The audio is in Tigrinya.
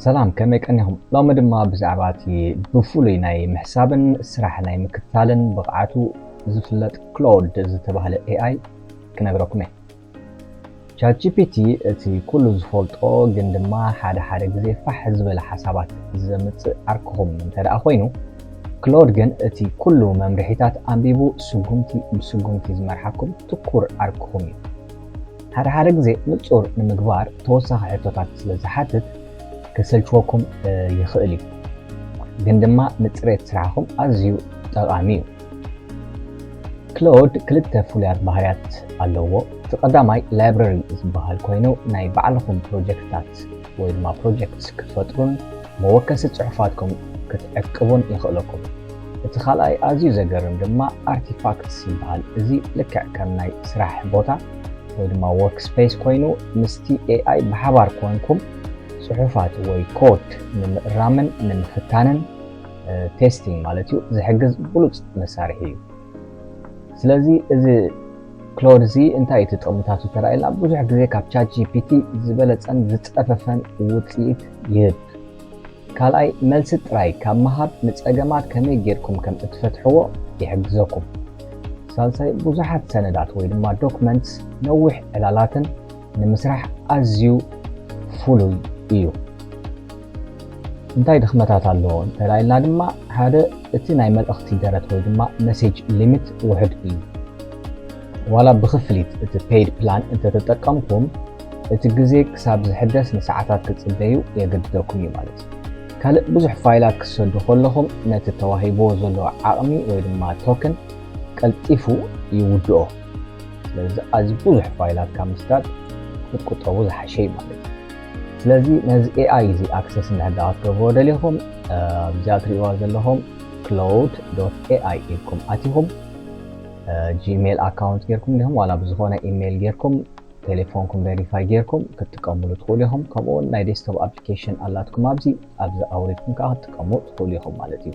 ሰላም ከመይ ቀኒኹም ሎሚ ድማ ብዛዕባ እቲ ብፍሉይ ናይ ምሕሳብን ስራሕ ናይ ምክትታልን ብቕዓቱ ዝፍለጥ ክሎድ ዝተባህለ ኤኣይ ክነግረኩም እየ ቻትጂፒቲ እቲ ኩሉ ዝፈልጦ ግን ድማ ሓደ ሓደ ግዜ ፋሕ ዝበለ ሓሳባት ዘምጽእ ዓርክኹም እንተድኣ ኮይኑ፣ ክሎድ ግን እቲ ኩሉ መምርሒታት ኣንቢቡ ስጉምቲ ብስጉምቲ ዝመርሓኩም ትኩር ዓርክኹም እዩ። ሓደ ሓደ ግዜ ንጹር ንምግባር ተወሳኺ ሕቶታት ስለ ዝሓትት ከሰልችወኩም ይኽእል እዩ፣ ግን ድማ ንጽሬት ስራሕኹም ኣዝዩ ጠቓሚ እዩ። ክሎድ ክልተ ፍሉያት ባህርያት ኣለዎ። እቲ ቀዳማይ ላይብረሪ ዝበሃል ኮይኑ ናይ ባዕልኹም ፕሮጀክትታት ወይ ድማ ፕሮጀክትስ ክትፈጥሩን መወከሲ ጽሑፋትኩም ክትዕቅቡን የኽእለኩም። እቲ ካልኣይ ኣዝዩ ዘገርም ድማ ኣርቲፋክትስ ይበሃል። እዚ ልክዕ ከም ናይ ስራሕ ቦታ ወይ ድማ ወርክ ስፔስ ኮይኑ ምስቲ ኤኣይ ብሓባር ኮንኩም ጽሑፋት ወይ ኮድ ንምእራምን ንምፍታንን ቴስቲንግ ማለት እዩ ዝሕግዝ ብሉፅ መሳርሒ እዩ ስለዚ እዚ ክሎድ እዚ እንታይ እቲ ጥቕምታቱ ተራኢልና ብዙሕ ግዜ ካብ ቻት ጂፒቲ ዝበለፀን ዝፀፈፈን ውፅኢት ይህብ ካልኣይ መልሲ ጥራይ ካብ ምሃብ ንፀገማት ከመይ ጌርኩም ከም እትፈትሕዎ ይሕግዘኩም ሳልሳይ ብዙሓት ሰነዳት ወይ ድማ ዶክመንትስ ነዊሕ ዕላላትን ንምስራሕ ኣዝዩ ፍሉይ እዩ። እንታይ ድኽመታት ኣለዎ እንተላይልና ድማ ሓደ እቲ ናይ መልእኽቲ ደረት ወይ ድማ መሴጅ ሊሚት ውሕድ እዩ። ዋላ ብክፍሊት እቲ ፔይድ ፕላን እንተተጠቀምኩም እቲ ግዜ ክሳብ ዝሕደስ ንሰዓታት ክትጽበዩ የገድደኩም እዩ ማለት እዩ። ካልእ ብዙሕ ፋይላት ክትሰዱ ከለኹም ነቲ ተዋሂብዎ ዘሎ ዓቕሚ ወይ ድማ ቶክን ቀልጢፉ ይውድኦ። ስለዚ ኣዝዩ ብዙሕ ፋይላት ካብ ምስዳድ ክትቁጠቡ ዝሓሸ እዩ ማለት እዩ ስለዚ ነዚ ኤኣይ እዚ ኣክሰስ እንድሕዳኣ ክትገብርዎ ደሊኹም ኣብዚኣ ትሪእዋ ዘለኹም ክሎውድ ዶት ኤኣይ ኢልኩም ኣቲኹም ጂሜል ኣካውንት ጌርኩም ዲኹም ዋላ ብዝኾነ ኢሜይል ጌርኩም ቴሌፎንኩም ቬሪፋይ ጌርኩም ክትጥቀምሉ ትኽእሉ ኢኹም ከምኡውን ናይ ዴስክቶፕ ኣፕሊኬሽን ኣላትኩም ኣብዚ ኣብዚ ኣውሪድኩም ከዓ ክትጥቀሙ ትኽእሉ ኢኹም ማለት እዩ